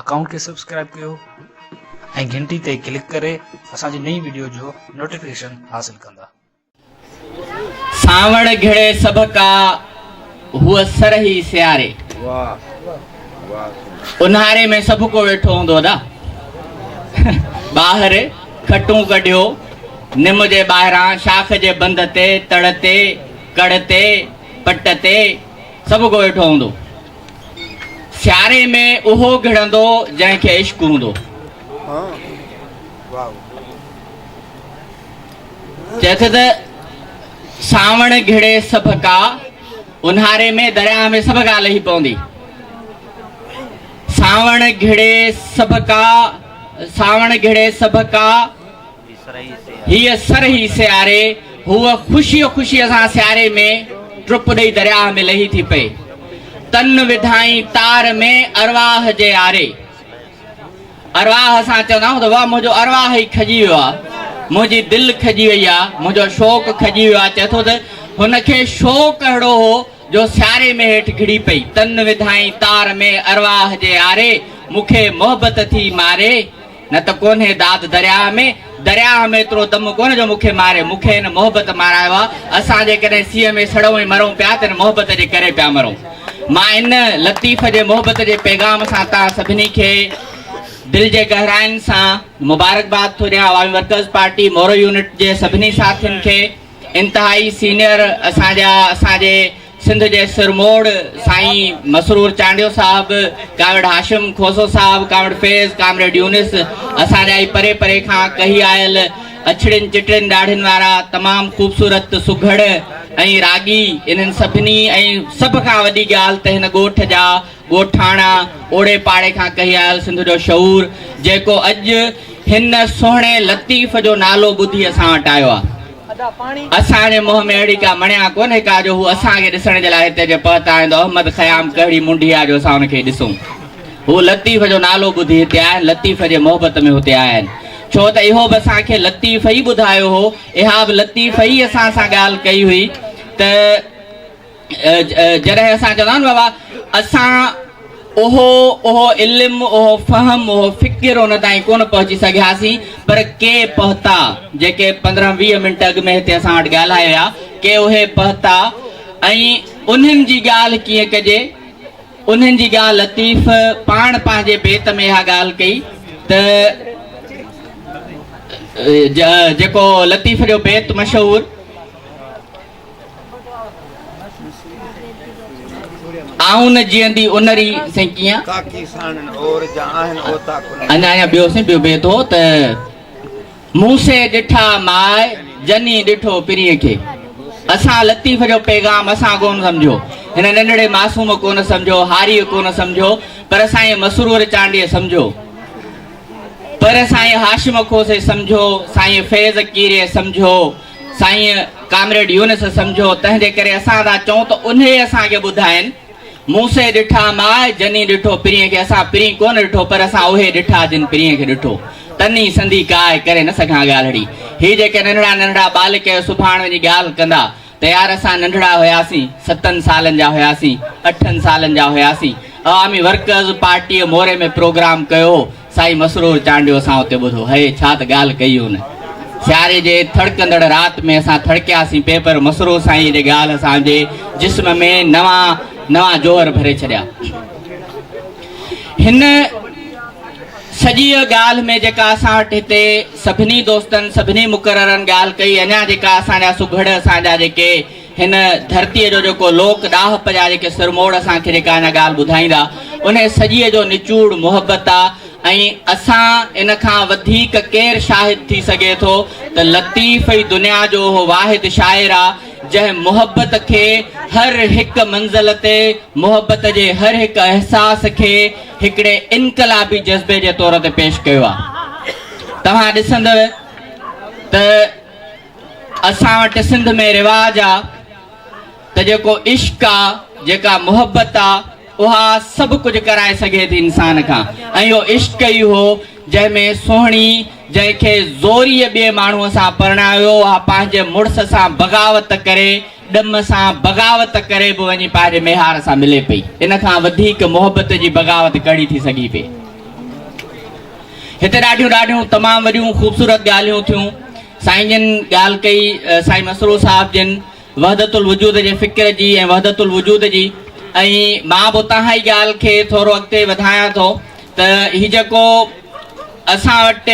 Account کي subscribe ڪيو ۽ گھنٽي تي ڪلڪ ڪري اسان جي نئين وڊيو جو نوٽيفڪيشن حاصل ڪندا. سانوڻ گھڙي سڀ ڪا هو سرهي سياري اونهاري ۾ سڀ ڪو ويٺو هوندو ادا ٻاهر کٽون ڪڍيو نم جي ٻاهران شاخ جي بند تي تڙ تي ڪڙ تي پٽ تي سڀ ڪو ويٺو هوندو. سياري ۾ اهو گهڙندو جنهن کي عشق هوندو. چئي ٿو ته سانوڻ گهڙي سڀ ڪا اونهاري ۾ درياهه ۾ سڀ ڪا لهي پوندي. سانوڻ گهڙي سڀ ڪا سانوڻ گهڙي سڀ ڪا. هيء سرهي سياري، هوء خوشيء خوشيء سان سياري ۾، ٽپ ڏئي درياهه ۾ لهي ٿي پئي. تن وڌائين تار ۾ ارواح جي آري. ارواح اسان چوندا آهيون ته واهه منهنجو ارواح ئي کڄي ويو آهي، منهنجي دل کڄي وئي آهي، منهنجو شوق کڄي ويو آهي. چئي ٿو ته هن کي شوق اهڙو هو جو سياري ۾ هيٺ گهڙي پئي. تن وڌائين تار ۾ ارواح جي آري، مون کي محبت ٿي ماري. نه ته ڪونهي داد درياهه ۾، درياهه ۾ ايترو دم ڪونه جو مون کي ماري، مون کي هن محبت مارايو آ، اسان جيڪڏهن سيء ۾ سڙون ۽ مرون پيا ته هن محبت جي ڪري پيا مرون. مان ان لطيف جي محبت جي پيغام سان توهان سڀني کي دل جي گهراين سان مبارڪباد ٿو ڏيان، Awami Workers Party Moro unit جي سڀني ساٿين کي، انتهائي سينئر اسان جا اسان جي سنڌ جي سرموڙ سائين مسرور چانڊيو صاحب، ڪامريڊ هاشم کوسو صاحب، ڪامريڊ فيض، ڪامريڊ يونس، اسان جا ئي پري پري کان ڪهي آيل اڇڙين چٽڙين ڏاڙهين وارا تمام خوبصورت، سگهڙ ۽ راڳي انهن سڀني ۽ سڀ کان وڏي ڳالهه ته هن ڳوٺ جا ڳوٺاڻا اوڙي پاڙي کان ڪهي آيل سنڌ جو شعور جيڪو اڄ هن سهڻي لطيف جو نالو ٻڌي اسان وٽ آيو آ. اسان جي منهن ۾ اهڙي ڪا مڻيا ڪونهي ڪا جو هو اسان کي ڏسڻ جي لاء هتي جي پهتائيندو احمد خيام ڪهڙي منڍيا جو اسان ان کي ڏسون هو لطيف جو نالو ٻڌي هتي آيا آهن لطيف جي محبت ۾ هتي آيا آهن ڇو ته اهو به اسان کي لطيف ئي ٻڌايو هو اها به لطيف ئي اسان سان ڳالهه ڪئي هئي ته جڏهن اسان چوندا آهيون نه بابا اسان اهو اهو علم اهو فهم اهو فڪر ان تائين ڪونه پهچي سگهياسين پر ڪي پهتا جيڪي پندرهن ويهه منٽ اڳ ۾ هتي اسان وٽ ڳالهائي ويا ڪي اهي پهتا ۽ انهن جي ڳالهه ڪيئن ڪجي انهن جي ڳالهه لطيف پاڻ پنهنجي بيت ۾ اها ڳالهه ڪئي ته جيڪو لطيف جو بيت مشهور آئون نه جيئندي انري سين ڪيئن ڪاڪي ساڻن اور جا آهن اوتا ڪن اڃا اڃا ٻيو سين ٻيو بيت هو ته مون سي ڏٺا ماء جني ڏٺو پرين کي اسان لطيف جو پيغام اسان ڪون سمجهيو هن ننڍڙي معصوم ڪون سمجهيو هاري ڪون سمجهيو پر سائين مسرور چانڊيي سمجهيو پر سائين هاشم کوسي سمجهيو سائين فيض ڪيري سمجهيو سائين ڪامريڊ يونس سمجهو تنهن جي ڪري اسان ٿا چئون ته انهي اسان کي ٻڌائين موسي ڏٺا ماء جني ڏٺو پرينء کي اسان پرين ڪونه ڏٺو پر اسان اهي ڏٺا جن پرينء کي ڏٺو تني سندي ڪاء ڪري نه سگهان ڳالهڙي هي جيڪي ننڍڙا ننڍڙا ٻال ڪيو سڀاڻ وڃي ڳالهه ڪندا ته يار اسان ننڍڙا هياسين ستن سالن جا هياسين اٺن سالن جا هياسين عوامي ورڪرز پارٽيء موري ۾ پروگرام ڪيو هو سائين مسرور چانڊيو اسان اتي ٻڌو هئي ڇا ته ڳالهه ڪئي هن سياري جي ٿڙڪندڙ رات ۾ اسان ٿڙڪياسين پئي پر مسرور سائينء جي ڳالهه اسان جي جسم ۾ نوان نوان جوهر ڀري ڇڏيا هن سڄيء ڳالهه ۾ جيڪا اسان وٽ هتي سڀني دوستن سڀني مقررن ڳالهه ڪئي اڃا جيڪا اسان جا سگهڙ اسان جا جيڪي هن ڌرتيء جو جيڪو لوڪ ڏاهپ جا جيڪي سرموڙ اسان کي جيڪا هن ڳالهه ٻڌائيندا، انهيء سڄيء جو نچوڙ محبت آ ۽ اسان ان کان وڌيڪ ڪير شاهد ٿي سگهي ٿو ته لطيف ئي دنيا جو اهو واحد شاعر آ، جنهن محبت کي هر هڪ منزل تي محبت جي هر هڪ احساس کي هڪڙي انقلابي جذبي جي طور تي پيش ڪيو آ. توهان ڏسندؤ ته اسان وٽ سنڌ ۾ رواج آ ته جيڪو عشق آ جيڪا محبت آ اها سڀ ڪجهه ڪرائي سگهي ٿي انسان کان ۽ اهو عشق ئي هو جنهن ۾ سهڻي جنهن کي زوريء ٻئي ماڻهوء سان پرڻايو اها پنهنجي مڙس سان بغاوت ڪري ڏم سان بغاوت ڪري به وڃي پنهنجي ميهار سان ملي پئي ان کان وڌيڪ محبت جي بغاوت ڪهڙي ٿي سگهي پئي هتي ڏاڍيون ڏاڍيون تمام وڏيون خوبصورت ڳالهيون ٿيون سائين جن ڳالهه ڪئي سائين مسرور صاحب جن وحدت الوجود جي فڪر جي ۽ وحدت الوجود جي ۽ مان به اتان هائي ڳالهه کي ٿورو اڳتي وڌايان ٿو ته هي جيڪو اسان وٽ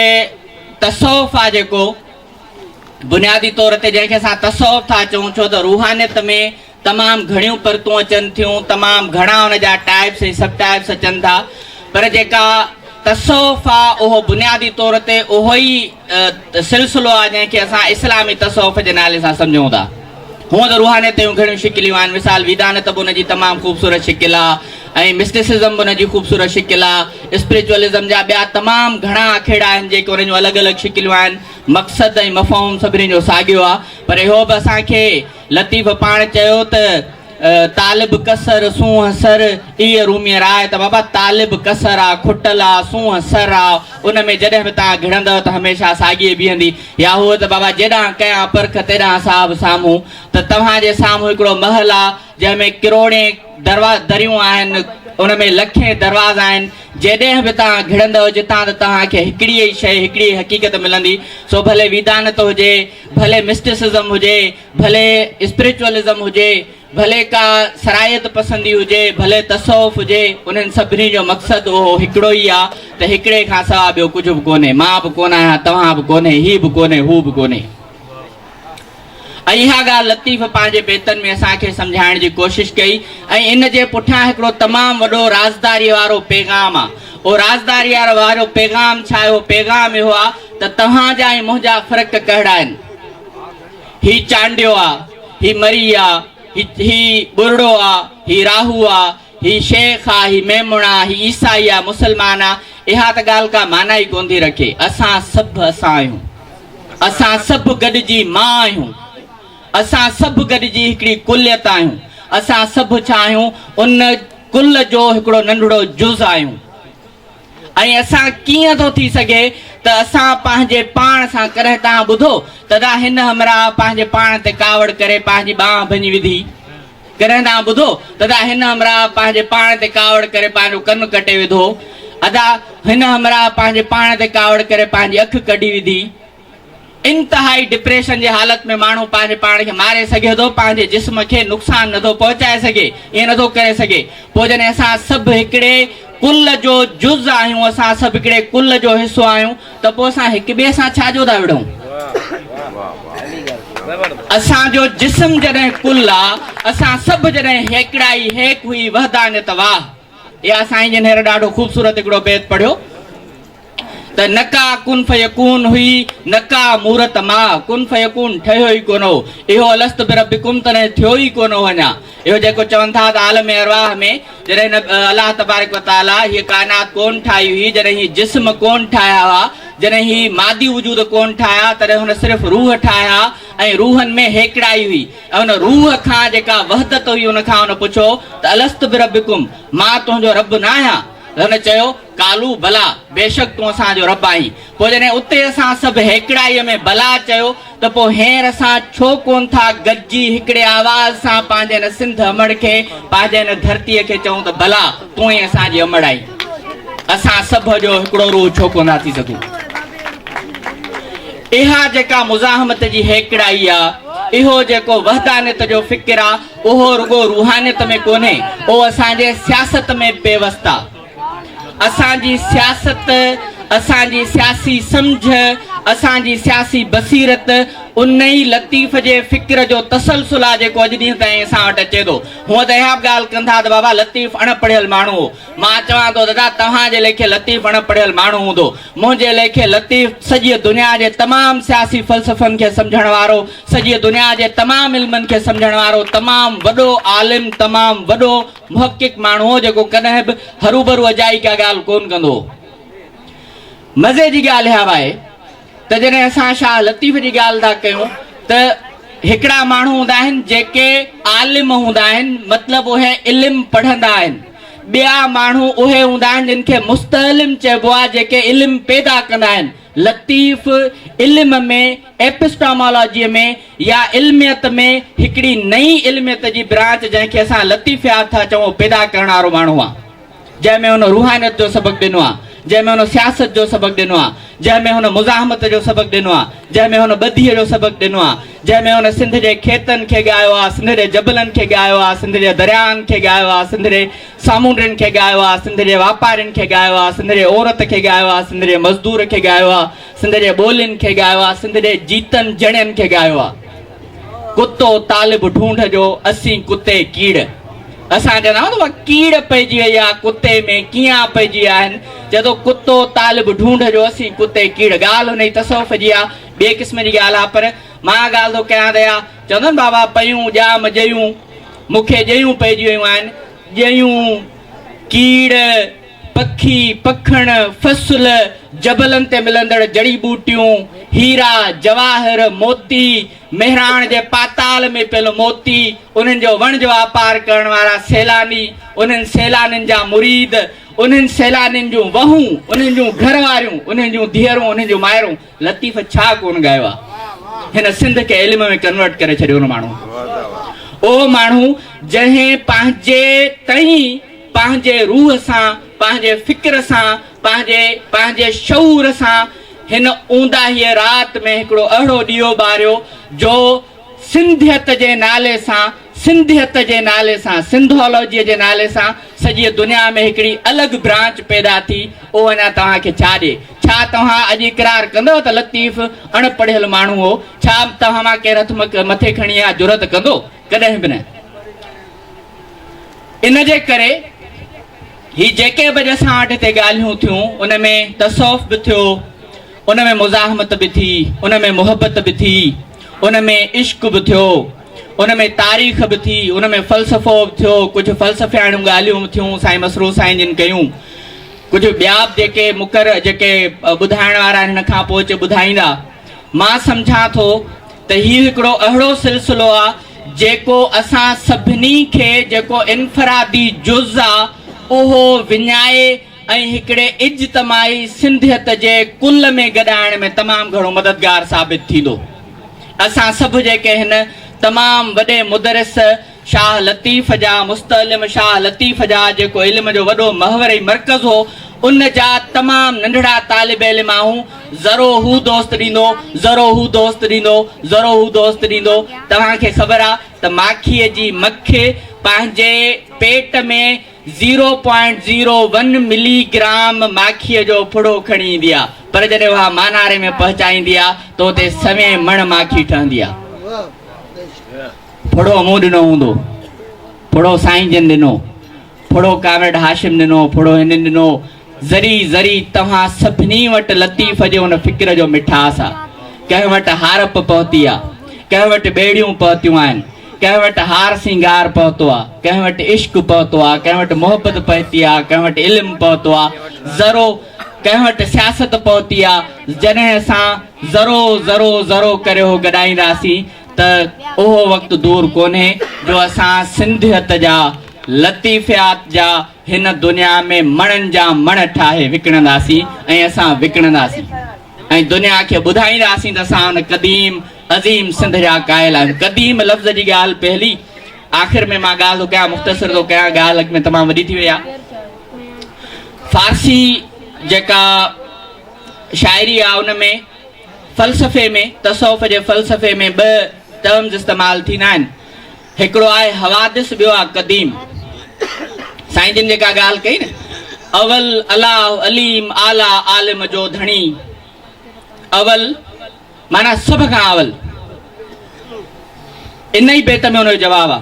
تصوف آ جيڪو بنيادي طور تي جنهن کي اسان تصوف ٿا چئون ڇو ته روحانيت ۾ تمام گهڻيون پرتون اچن ٿيون، تمام گهڻا ان جا ٽائيپس ۽ سب ٽائيپس اچن ٿا، پر جيڪا تصوف آ اهو بنيادي طور تي اهو ئي سلسلو آ جنهن کي اسان اسلامي تصوف جي نالي سان سمجهون ٿا. هونء ته روحانيت جون گهڻيون شڪليون آهن، مثال ويدانت به ان جي تمام خوبصورت شڪل آ ۽ مسٽسزم به ان جي خوبصورت شڪل آ، اسپريچوئلزم جا ٻيا تمام گهڻا اکيڙا آهن جيڪي ان جون الڳ الڳ شڪليون آهن، مقصد ۽ مفهوم سڀني جو ساڳيو آ، پر اهو به اسان کي لطيف پاڻ چيو ته طالب ڪسر سونهن سر اي روميء راء ته بابا طالب ڪسر آ، کٽل آ، سونهن سر آ، ان ۾ جڏهن به توهان گهڙندؤ ته هميشه ساڳيء بيهندي. يا هوء ته بابا جيڏانهن ڪيان پرک تيڏانهن صاحب سامهون ته توهان جي سامهون هڪڙو محل آ، جنهن ۾ ڪروڙين دروا دريون آهن، ان ۾ لکين دروازا آهن، جيڏهن به توهان گهڙندؤ جتان ته توهان کي هڪڙيء ئي شيء، هڪڙيء ئي حقيقت ملندي، سو ڀلي ويدانت هجي، ڀلي مسٽسزم هجي، ڀلي اسپريچوئلزم هجي، ڀلي ڪا سرائيت پسندي هجي، ڀلي تصوف هجي، انهن سڀني جو مقصد اهو هڪڙو ئي آ ته هڪڙي کان سوا ٻيو ڪجهه به ڪونهي، مان به ڪونه آهيان، توهان به ڪونهي، هي به ڪونهي، هو به ڪونهي. ۽ اها ڳالهه لطيف پنهنجي بيتن ۾ اسان کي سمجهائڻ جي ڪوشش ڪئي ۽ ان جي پٺيان هڪڙو تمام وڏو رازداريء وارو پيغام آ. او رازدار يار وارو پيغام ڇاهيو پيغام اهو آ ته توهان جا ۽ منهنجا فرق ڪهڙا آهن هي چانڊيو آ هي مري آ هي هي ٻرڙو آ هي راهو آ هي شيخ آ هي ميمڻ آ هي عيسائي آ مسلمان آ اها ته ڳالهه ڪا معنيٰ ئي ڪونٿي رکي اسان سڀ اسان آهيون اسان سڀ گڏجي مان آهيون. اسان سڀ گڏجي هڪڙي ڪليت آهيون. اسان سڀ ڇا آهيون؟ ان ڪل جو هڪڙو ننڍڙو جز آهيون. ۽ اسان ڪيئن ٿو ٿي سگهي ته اسان پنهنجي پاڻ سان ڪڏهن توهان ٻڌو ته ادا هن همراهه پنهنجي پاڻ تي ڪاوڙ ڪري پنهنجي ٻانهن ڀڃي وڌي؟ ڪڏهن توهان ٻڌو ته ادا هن همراهه پنهنجي پاڻ تي ڪاوڙ ڪري پنهنجو ڪن ڪٽي وڌو؟ ادا هن همراهه پنهنجي پاڻ تي ڪاوڙ ڪري پنهنجي اک ڪڍي وڌي؟ انتهائي ڊپريشن جي حالت ۾ ماڻهو پنهنجي پاڻ کي ماري سگهي ٿو، پنهنجي جسم کي نقصان نٿو پهچائي سگهي، ائين نٿو ڪري سگهي. پوء جڏهن اسان سڀ هڪڙي ڪل جو جز آهيون، اسان سڀ هڪڙي ڪل جو حصو آهيون ته پوء اسان هڪ ٻئي سان ڇا جو ٿا وڙهون؟ اسان جو جسم جڏهن ڪل آ، اسان سڀ جڏهن هيڪڙائي هيڪ هئي وحدانيت واهه. اي آ سائين جن هينئر ڏاڍو خوبصورت هڪڙو بيت پڙهيو. ته نه ڪا ڪن فيڪون هئي نه ڪا مورت ماء ڪن فيڪون ٺهيو ئي ڪونه هو اهو الست بربڪم تڏهن ٿيو ئي ڪونه هو اڃا اهو جيڪو چون ٿا ته عالم ارواح ۾ جڏهن الله تبارڪ وتعالي هيء ڪائنات ڪون ٺاهي هئي جڏهن هي جسم ڪون ٺاهيا هئا جڏهن هي مادي وجود ڪون ٺاهيا تڏهن هن صرف روح ٺاهيا ۽ روحن ۾ هيڪڙائي هئي ۽ ان روح کان جيڪا وحدت هئي ان کان هن پڇيو ته الست بربڪم مان تنهنجو رب ناهيان هن چيو ڪالو، بلا! بيشڪ تون اسان جو رب آهين. پوء جڏهن اتي اسان سڀ هيڪڙائيء ۾ بلا! چيو ته پوء هينئر اسان ڇو ڪونه ٿا گڏجي هڪڙي آواز سان پنهنجي هن سنڌ امڙ کي، پنهنجي هن ڌرتيء کي چئون ته بلا! تون ئي اسان جي امڙ آهين. اسان سڀ جو هڪڙو روح ڇو ڪونه ٿا ٿي سگهون؟ اها جيڪا مزاحمت جي هيڪڙائي آ، اهو جيڪو وحدانيت جو فڪر آ، اهو رڳو روحانيت ۾ ڪونهي، اهو اسان جي سياست ۾ پيوست آ. اسان جي سياست، اسان جي سياسي سمجهه، اسان جي سياسي بصيرت ان ئي لطيف جي فڪر جو تسلسل آ جيڪو اڄ ڏينهن تائين اسان وٽ اچي ٿو. هونء ته اها به ڳالهه ڪن ٿا ته بابا لطيف اڻ پڙهيل ماڻهو هو. مان چوان ٿو دادا توهان جي ليکي لطيف اڻ پڙهيل ماڻهو هوندو. منهنجي ليکي لطيف سڄيء دنيا جي تمام سياسي فلسفن کي سمجهڻ وارو، سڄيء دنيا جي تمام علمن کي سمجهڻ وارو تمام وڏو عالم، تمام وڏو محقق ماڻهو هو جيڪو ڪڏهن به هروڀرو اجائي ڪا ڳالهه ڪونه ڪندو هو. مزي جي ڳالهه اها آهي ته جڏهن اسان شاهه لطيف جي ڳالهه ٿا ڪيون ته هڪڙا ماڻهو هوندا آهن جيڪي عالم هوندا آهن مطلب اهي علم پڙهندا آهن ٻيا ماڻهو اهي هوندا آهن جن کي مستعلم چئبو آهي جيڪي علم پيدا ڪندا آهن لطيف علم ۾ Epistemology ۾ يا علميت ۾ هڪڙي نئين علميت جي برانچ جنهن کي اسان لطيفيات ٿا چئون پيدا ڪرڻ وارو ماڻهو آ جنهن ۾ هن روحانيت جو سبق ڏنو آ جنهن ۾ هن سياست جو سبق ڏنو آ جنهن ۾ هن مزاحمت جو سبق ڏنو آ جنهن ۾ هن ٻڌي جو سبق ڏنو آ جنهن ۾ هن سنڌ جي کيتن کي ڳايو آ سنڌ جي جبلن کي ڳايو آ سنڌ جي درياهن کي ڳايو آ سنڌ جي سامونڊين کي ڳايو آ سنڌ جي واپارين کي ڳايو آ سنڌ جي عورت کي ڳايو آ سنڌ جي مزدور کي ڳايو آ سنڌ جي ٻولين کي ڳايو آ، سنڌ جي جيتن جڻين کي ڳايو آ. ڪتو طالب ڍونڍ جو، اسين ڪتي ڪيڙ. اسان چوندا آهيون ته اها ڪيڙ پئجي وئي آ ڪتي ۾ ڪيئان پئجي ويا آهن، چئي ٿو ڪتو طالب ڍونڍ جو، اسين ڪتي ڪيڙ. ڳالهه انهي تصوف جي آ، ٻئي قسم جي ڳالهه آ پر مان اها ڳالهه ٿو ڪيان ته اها چوندا آهن بابا پيون ڄام ڄيون مون کي ڄيون پئجي ويون آهن، ڄيون، ڪيڙ. پکي، پکڻ، فصل، جبلن تي ملندڙ جڙي ٻوٽيون، هيرا، جواهر، موتي، مهراڻ جي پاتال ۾ پيل موتي، انهن جو وڻج واپار ڪرڻ وارا سيلاني، انهن سيلانين جا مريد، انهن سيلانين جون وهون، انهن جون گهر واريون، انهن جون ڌيئرون، انهن جون مائرون. لطيف ڇا ڪون ڳايو آ هن سنڌ کي علم ۾ ڪنورٽ ڪري ڇڏيو ان ماڻهو اهو ماڻهو جنهن پنهنجي تئين پنهنجي روح سان پنهنجي فڪر سان پنهنجي پنهنجي شعور سان هن اونداهيء رات ۾ هڪڙو اهڙو ڏيئو ٻاريو جو سنڌيت جي نالي سان سنڌيت جي نالي سان سنڌولوجيء جي نالي سان سڄيء دنيا ۾ هڪڙي الڳ برانچ پيدا ٿي، اهو اڃا توهان کي ڇا ڏي؟ ڇا توهان اڄ اقرار ڪندؤ ته لطيف اڻ پڙهيل ماڻهو هو؟ ڇا توهان مان ڪير هٿ مٿي کڻي اها جرئت ڪندو؟ ڪڏهن به نه. ان جي ڪري هي جيڪي به اڄ اسان وٽ هتي ڳالهيون ٿيون، ان ۾ تصوف به ٿيو، ان ۾ مزاحمت به ٿي، ان ۾ محبت به ٿي، ان ۾ عشق به ٿيو، ان ۾ تاريخ به ٿي، ان ۾ فلسفو به ٿيو، ڪجهه فلسفياڻيون ڳالهيون به ٿيون سائين مسرور سائين جن ڪيون، ڪجهه ٻيا به جيڪي مقر جيڪي ٻڌائڻ وارا آهن هن کان پوء اچي ٻڌائيندا. مان سمجهان ٿو ته هي هڪڙو اهڙو سلسلو آ جيڪو اسان سڀني کي جيڪو انفرادي جز آ اهو وڃائي ۽ هڪڙي اجتماعي سنڌيت جي ڪل ۾ گڏائڻ ۾ تمام گهڻو مددگار ثابت ٿيندو. اسان سڀ جيڪي هن تمام وڏي مدرس شاهه لطيف جا مستعلم شاهه لطيف جا جيڪو علم جو وڏو محوري مرڪز هو ان جا تمام ننڍڙا طالب علم آهون ذرو هو دوست ڏيندو ذرو هو دوست ڏيندو ذرو هو دوست ڏيندو توهان کي خبر آ ته ماکيء جي مک پنهنجي پيٽ ۾ zero point zero one milligram ماکيء جو ڦڙو کڻي ايندي آ، پر جڏهن اها ماناري ۾ پهچائيندي آ ته اتي سوين مڻ ماکي ٺهندي آ. ڦڙو مون ڏنو هوندو، ڦڙو سائين جن ڏنو، ڦڙو ڪامريڊ هاشم ڏنو، ڦڙو هنن ڏنو، ذري ذري توهان سڀني وٽ لطيف جي ان فڪر جو مٺاس آ. ڪنهن وٽ هارپ پهتي آ. ڪنهن وٽ ٻيڙيون پهتيون آهن. ڪنهن وٽ هار سينگار پهتو آ. ڪنهن وٽ عشق پهتو آ. ڪنهن وٽ محبت پهتي آ. ڪنهن وٽ علم پهتو آ. ذرو ڪنهن وٽ سياست پهتي آ. جڏهن اسان ذرو ذرو ذرو ڪري اهو گڏائينداسين ته اهو وقت دور ڪونهي جو اسان سنڌيت جا لطيفيات جا هن دنيا ۾ مڻن جا مڻ ٺاهي وڪڻنداسين ۽ اسان وڪڻنداسين ۽ دنيا کي ٻڌائينداسين ته اسان ان قديم عظيم سنڌ جا قائل آهيون قديم لفظ جي ڳالهه پهلي آخر ۾ مان ڳالهه ٿو ڪيان مختصر ٿو ڪيان ڳالهه اڳ ۾ تمام وڏي ٿي وئي آهي فارسي جيڪا شاعري آ ان ۾ فلسفي ۾ تصوف جي فلسفي ۾ ٻه ٽرمز استعمال ٿيندا آهن هڪڙو آهي حوادث ٻيو آهي قديم. سائين جن جيڪا ڳالهه ڪئي نه اول الاهه عليم اعليٰ عالم جو ڌڻي اول معنيٰ سڀ کان اول ان ئي بيت ۾ ان جو جواب آ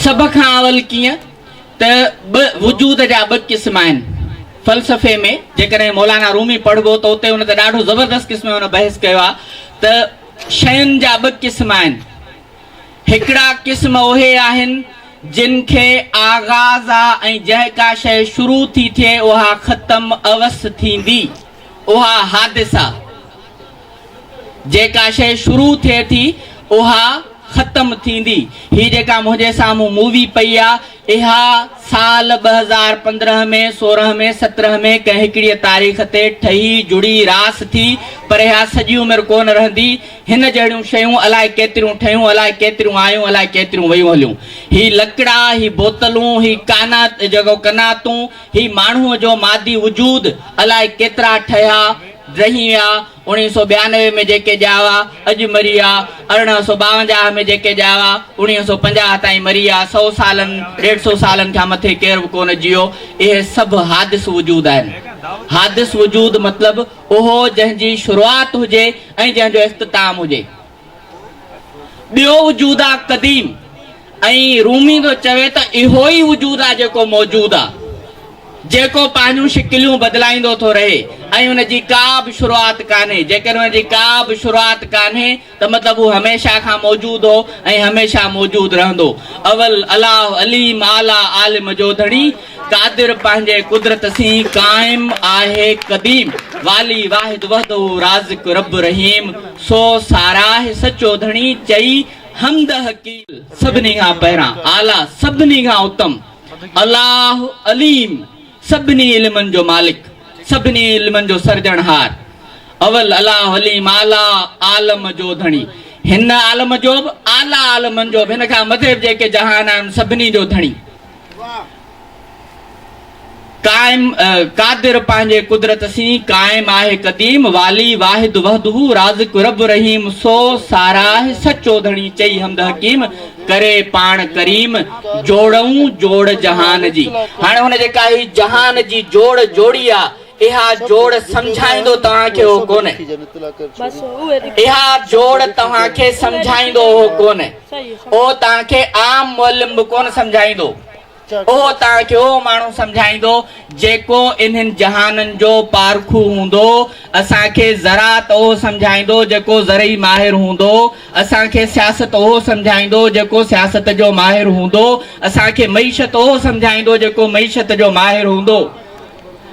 سڀ کان اول ڪيئن ته ٻه وجود جا ٻه قسم آهن فلسفي ۾ جيڪڏهن مولانا رومي پڙهبو ته اتي ان تي ڏاڍو زبردست قسم ان بحث ڪيو آ ته شين جا ٻه قسم آهن. هڪڙا قسم اهي آهن جن کي آغاز آ ۽ جنهن ڪا شيء شروع ٿي ٿئي اها ختم اوس ٿيندي. اها حادث آ. جي ڪا شيء شروع ٿئي ٿي اها ختم ٿيندي. هي جيڪا منهنجي سامهون مووي پئي آ. اها سال ٻه هزار پندرهن ۾ سورهن ۾ سترهن ۾ ڪنهن هڪڙيء تاريخ تي ٺهي جڙي راس ٿي پر اها سڄي عمر ڪو نه رهندي. هن جهڙيون شيون الاء ڪيتريون ٺهيون الاء ڪيتريون آيون الاء ڪيتريون ويون هليون. هي لڪڙا، هي بوتلون، هي ڪانا جيڪو قناعتون، هي ماڻهوء جو مادي وجود الاء ڪيترا ٺهيا، ڊهي ويا، اڻيهه سؤ ٻيانوي ۾ جيڪي ڄائي هئا، اڄ مري ويا. ارڙهن سؤ ٻاونجاهه ۾ جيڪي ڄائي هئا، اڻيهه سؤ پنجاهه تائين مري ويا. سؤ سالن، ڏيڍ سؤ سالن کان مٿي ڪير به ڪونه جيو. اهي سڀ حادث وجود آهن. حادث وجود مطلب اهو جنهن جي شروعات هجي ۽ جنهن جو اختتام هجي. ٻيو وجود آ قديم ۽ رومي ٿو چوي ته اهو ئي وجود آ جيڪو موجود آ جيڪو پنهنجون شڪليون بدلائيندو ٿو رهي ۽ ان جي ڪا به شروعات ڪانهي جيڪڏهن ان جي ڪا به شروعات ڪانهي ته مطلب هو هميشه کان موجود هو ۽ هميشه موجود رهندو اول الاهه عليم اعليٰ عالم جو ڌڻي قادر پنهنجي قدرت سين قائم آهي قديم والي واحد وحده رازق رب رحيم سو ساراهه سچو ڌڻي چئي حمد حقي سڀني کان پهران اعليٰ سڀني کان اتم الله عليم سڀني علمن جو مالڪ سڀني علمن جو سرجڻهار اول الله عليم اعليٰ عالم جو ڌڻي هن عالم جو به اعليٰ عالمن جو به هن کان مٿي به جيڪي جهان آهن سڀني جو ڌڻي قائم قادر پنهنجي قدرت سين قائم آهي قديم والي واحد وحده رازق رب رحيم سو ساراهه سچو ڌڻي چئي حمد حڪيم ڪري پاڻ ڪريم جوڙئون جوڙ جهان جي هاڻي هن جيڪا هي جهان جي جوڙ جوڙي آ اها جوڙ سمجهائيندو توهان کي اهو ڪونهي. اها جوڙ توهان کي سمجهائيندو اهو ڪونهي. اهو توهان کي عام معلم به ڪونه سمجهائيندو. اهو توهان کي اهو ماڻهو سمجهائيندو جيڪو انهن جهانن جو پارکو هوندو. اسان کي زراعت اهو سمجهائيندو جيڪو زرعي ماهر هوندو. اسان کي سياست اهو سمجهائيندو جيڪو سياست جو ماهر هوندو. اسان کي معيشت اهو سمجهائيندو جيڪو معيشت جو ماهر هوندو.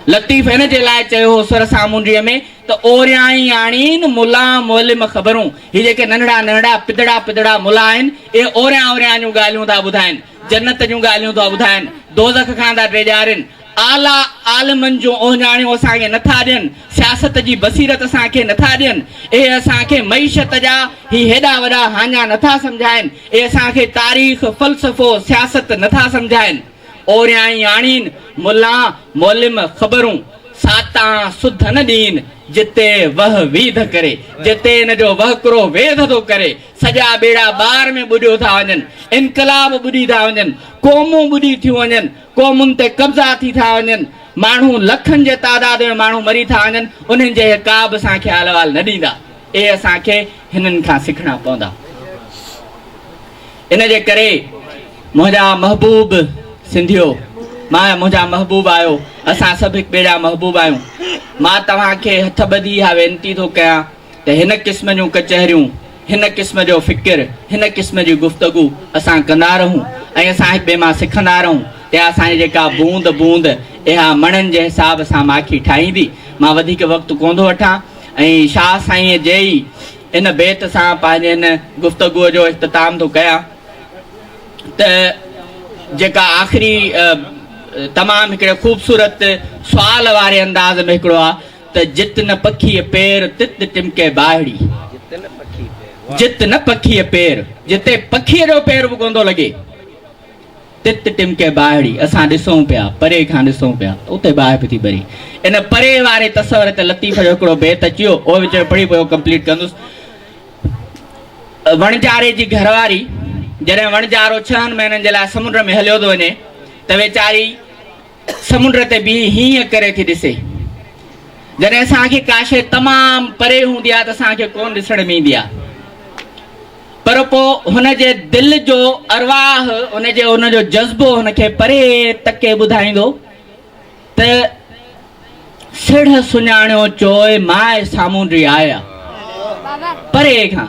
لطيف ان جي لاء چيو هو سر سامونڊيء ۾ ته اوريائين آڻين ملا معلم خبرون، هي جيڪي ننڍڙا ننڍڙا پڌڙا پڌڙا ملا آهن، اهي اوريان اوريان جون ڳالهيون ٿا ٻڌائين، جنت جون ڳالهيون ٿا ٻڌائين، دوزخ کان ٿا ڊيڄارين، اعليٰ عالمن جون اوهڃاڻيون اسان کي نه ٿا ڏين، سياست جي بصيرت اسان کي نه ٿا ڏين، اهي اسان کي معيشت جا هي هيڏا وڏا هاڃا نه ٿا سمجهائين، اهي اسان کي تاريخ، فلسفو، سياست نه ٿا سمجهائين. اورياڻين ملا مولم خبرون ساتان سڌ نه ڏين جتي وه ويڌ ڪري جتي ان جو وهڪرو ويڌ ٿو ڪري سڄا ٻيڙا ٻار ۾ ٻڏيو ٿا وڃن انقلاب ٻڏي ٿا وڃن قومون ٻڏي ٿيون وڃن قومن تي قبضا ٿي ٿا وڃن ماڻهو لکن جي تعداد ۾ ماڻهو مري ٿا وڃن انهن جي اهي ڪابه اسان کي احلوال نه ڏيندا اهي اسان کي هنن کان سکڻا پوندا. ان جي ڪري منهنجا محبوب سنڌيو مان منهنجا محبوب آهيو اسان سڀ هڪ ٻئي جا محبوب آهيون مان توهان کي هٿ ٻڌي اها وينتي ٿو ڪيان ته هن قسم جون ڪچهريون هن قسم جو فڪر هن قسم جي گفتگو اسان ڪندا رهون ۽ اسان هڪ ٻئي مان سکندا رهون ته اسانجي جيڪا بوند بوند اها مڻن جي حساب سان ماکي ٺاهيندي مان وڌيڪ وقت ڪون ٿو وٺان ۽ شاهه سائين جي ئي هن بيت سان پنهنجي هن گفتگوء جو اختتام ٿو ڪيان ته جيڪا آخري تمام هڪڙي خوبصورت سوال واري انداز ۾ هڪڙو آهي ته جت نه پکيء پير تت ٽمڪي ٻاهڙي جت نه پکيء پير جتي پکيء جو پير به ڪونه ٿو لڳي. تت ٽمڪي ٻاهڙي، اسان ڏسون پيا، پري کان ڏسون پيا، اتي باهه به ٿي ٻري. ان پري واري تصور تي لطيف جو هڪڙو بيت اچي ويو، اهو وچ ۾ پڙهي پوء اهو ڪمپليٽ ڪندس. وڻجاري جي گهر واري، جڏهن وڻجارو ڇهن مهينن جي لاء سمنڊ ۾ هليو ٿو وڃي ته ويچاري، سمنڊ تي بيهي هينئن ڪري ٿي ڏسي. جڏهن اسان کي ڪا شيء تمام پري هوندي آهي ته اسان کي ڪونه ڏسڻ ۾ ايندي آهي. پر پوء هن جي دل جو ارواح، ان جي ان جو جذبو هن کي پري تڪي ٻڌائيندو ته سڙهه سڃاڻيو چوء ماء سامونڊي آيا. پري کان،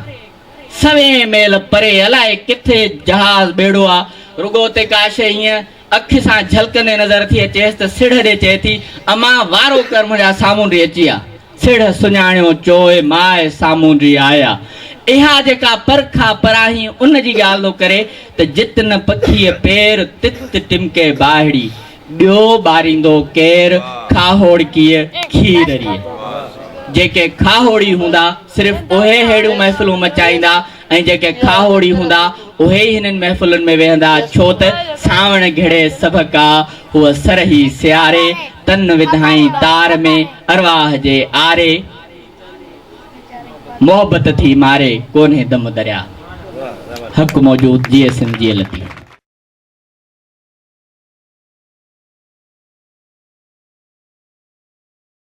سوين ميل پري، الائي ڪٿي جهاز ٻيڙو آ، رڳو اتي ڪا شيء هينئن اک سان جهلڪندي نظر ٿي اچيس ته سڙهه ڏي چئي ٿي، اما وارو ڪر منهنجا سامونڊي اچي ويا. سڙهه سڃاڻيو چوء ماء سامونڊي آيا. اها جيڪا پر کان پراهين ان جي ڳالهه ٿو ڪري ته جت نه پکيء پير، تت ٽمڪي ٻاهڙي. ٻيو ٻاريندو ڪير؟ کاهوڙڪيء کيرريء. جيڪي کاهوڙي هوندا، صرف اهي ههڙيون محفلون مچائيندا، ۽ جيڪي کاهوڙي هوندا، اهي ئي هنن محفلن ۾ ويهندا، ڇو ته سانوڻ گهڙي سڀ ڪا، هوء سرهي سياري، تن وڌائين تار ۾، ارواح جي آري، محبت ٿي ماري، ڪونهي دم درياء. حق موجود، جيئي سنڌ جيئي لطيف.